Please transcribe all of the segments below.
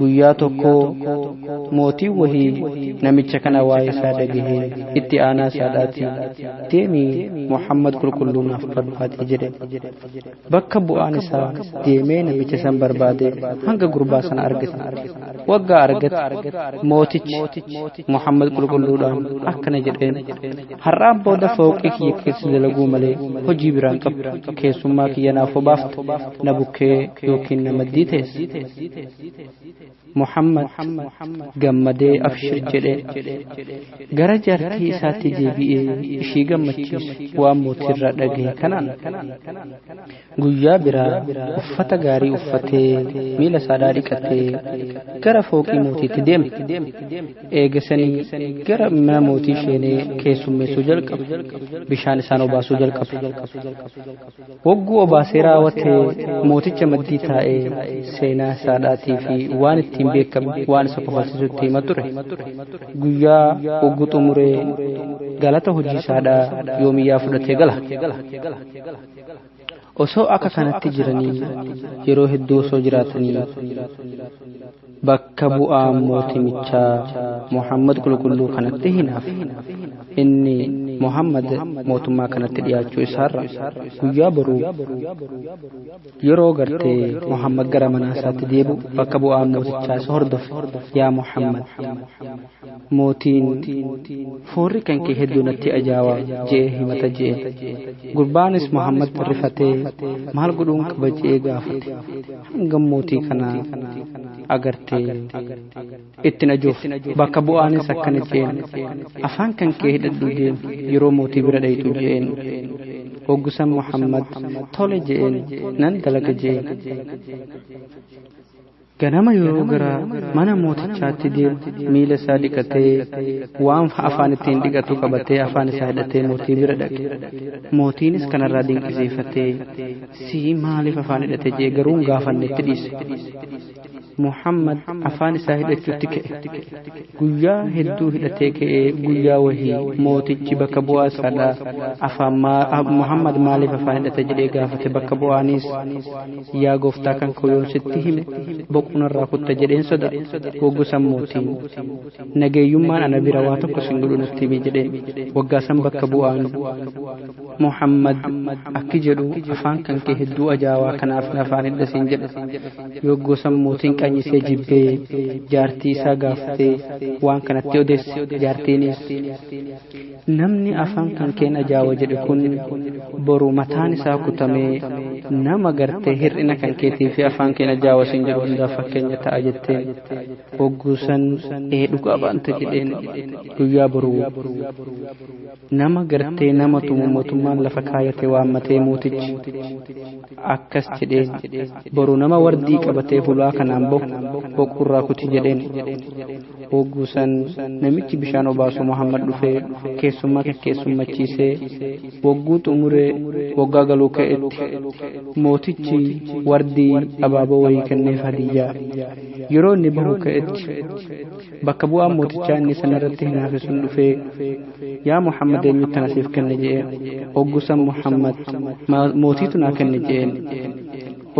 guyyaa tokko mootiin wahii namicha kana waa'ee isaa dhagahee itti aanaa isaadhaati deemi muhammad qulqulluu naaf barbaadi jedhe bakka bu'aan isaa deemee namicha san barbaade hanga gurbaa sana argate waggaa argate mootichi muhammad qulqulluudhaan akkana jedheen Har'aan booda fooqii kiyya keessa dalaguu malee hojii biraan qabu. Keessummaa kiyya naaf hobaafte na bukkee yookiin na maddii teesse. Muhammad gammadee abshir jedhee gara jaartii isaatti deebi'ee ishii gammachiise waan mootii irraa dhagahe kanaan. Guyyaa biraa uffata gaarii uffatee miila saadhaa dhiqatee gara fooqii mootiitti deeme. Eegasanii gara mana mootii sheenee keessummeessuu jalqabe. Bishaan isaan obaasuu jalqabe. Hogguu obaasee raawwatee mooticha maddii taa'ee seenaa saadhaatii fi waan ittiin beekamu waan isa kofalsiisu itti hima ture. Guyyaa hogguu xumuree galata hojii saadhaa yoomiyyaa fudhatee gala. osoo akka kanatti jiranii yeroo hedduu osoo jiraatanii bakka bu'aa mootimichaa Muhammad qulqulluu kanatti hinaaf inni Muhammad mootummaa kanatti dhiyaachuu isaarra guyyaa boruu yeroo gartee Muhammad gara manaa isaatti deebi'u bakka bu'aa mootichaa isa hordofe yaa Muhammad Mootiin, Foorri kan kee hedduu natti ajaawa je'ee himata je'een. Gurbaanis Muhammad rifatee maal godhuun qaba je'ee gaafate. Hangam mootii kana agartee ittin ajuuf bakka bu'aanis akkana je'een. Afaan kan kee hidhadhu deem yeroo mootii bira dhayxu je'een. Hoggusan Muhammad tole je'een nan dalaga je'een. Ganama yeroo gara mana mootichaatti deemu miila isaa dhiqatee waan afaan ittiin dhiqatu qabatee afaan isaa hidhatee mootii bira dhaqe. Mootiinis kanarraa dinqisiifatee si maaliif afaan hidhate jee garuu hin gaafanne itti dhiise. Muhammad afaan isaa hidhachuutti ka'e. guyyaa hedduu hidhatee ka'ee guyyaa wahii mootichi bakka bu'aa isaadha afaan muhammad maaliif afaan hidhata jedhee gaafate bakka bu'aanis yaa gooftaa kan koo yoon sitti hime boqonarraa kutta jedheen soda waggusan mootiin nageeyyummaan ana bira waa tokko sin godhu natti hime jedheen waggaasan bakka bu'aan muhammad akki jedhu afaan kan kee hedduu ajaawaa kanaaf afaan hidhasin jedhe Yogguu san mootiin qanyisee jibbee jaartii isaa gaafatee waan kanatti odeesse jaartiinis namni afaan kan keen ajaawa jedhe kun boru mataan isaa kutamee nama gartee hir'ina kan keetii fi afaan keen ajaawa sin jedhu hundaaf fakkeenya ta'a jettee hogguu san ee dhugaa baanta jedheen guyyaa boruu Nama gartee nama tumu motummaan lafa kaayate waammatee mootichi akkas jedheen boru nama wardii qabatee hulaa kanaan bohu boquurraa kuti jedheen hogguu san namichi bishaan obaasu Muhammad dhufee keessummaa keessummachiisee wogguu xumuree woggaa galuu ka'etti mootichi wardii abaaboo wayii kenneef hadiyyaa yeroo inni bahu ka'etti bakka bu'aan mootichaa inni san irratti hinaafe sun dhufee yaa muhammad eenyutti na siif kenne je'een oggusan muhammad mootiitu naa kenne je'een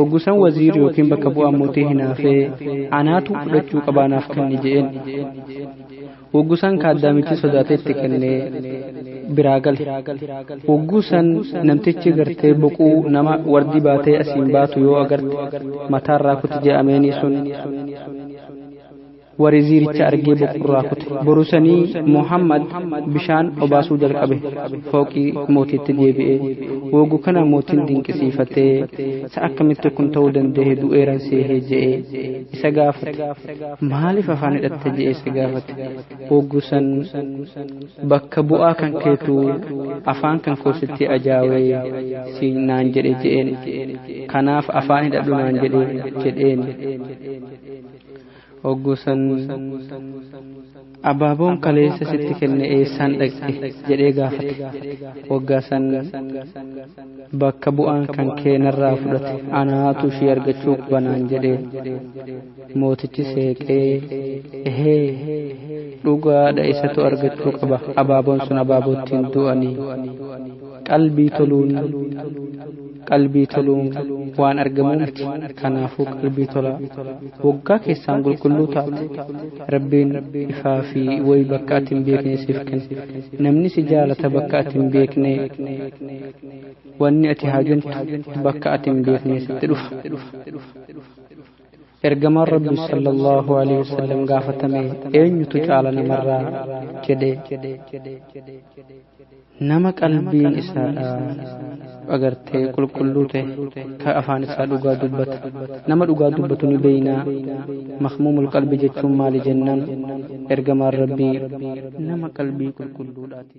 oggusan waziir yookiin bakka bu'aan mootii hinaafee anaatu fudhachuu qabaanaaf kenne je'een oggusan kaaddaamichi sodaatee itti kennee biraa gale oggusan namtichi gartee boquu nama wardi baatee asiin baatu yoo agarte mataarraa kuti je'ameenii sun warri ziiricha argee boqorraa kute borusanii muhammad bishaan obaasuu jalqabe fooqii mootiitti deebi'e woogu kana mootiin dinqisiifatee sa akkamitti kun ta'uu danda'e du'eeran seehee je'e isa gaafate maaliif afaan hidhatte je'e isa gaafate woogu san bakka bu'aa kan keetu afaan kan koositti ajaawee si naan jedhe je'een kanaaf afaan hidhadhu naan jedhe jedheen Hoggusan abaaboon kaleessa sitti kenne eessaan dhaqxe jedhee gaafate. Waggaa san bakka bu'aan kan kee narraa fudhate anaatu ishii argachuu qaba naan jedhee. Mootichi seeqee ehee dhugaadha isatu argachuu qaba abaaboon sun abaaboo ittiin du'anii qalbii toluun qalbii toluun waan argamuu miti kanaafuu qalbii tolaa waggaa keessaan qulqulluu taate rabbiin ifaa fi wayi bakka ati hin beekne siif kenne namni si jaalata bakka ati hin beekne wanni ati haajantu bakka ati hin beekne sitti dhufa Ergamaan Rabbi sallallahu alaihi wasallam gaafatame eenyutu caala namarraa jedhe nama qalbiin isaadha agartee qulqulluu ta'e ka afaan isaa dhugaa dubbata nama dhugaa dubbatu ni beeynaa makmuumul qalbi jechuun maali jennaan ergamaan Rabbii nama qalbii qulqulluudhaati.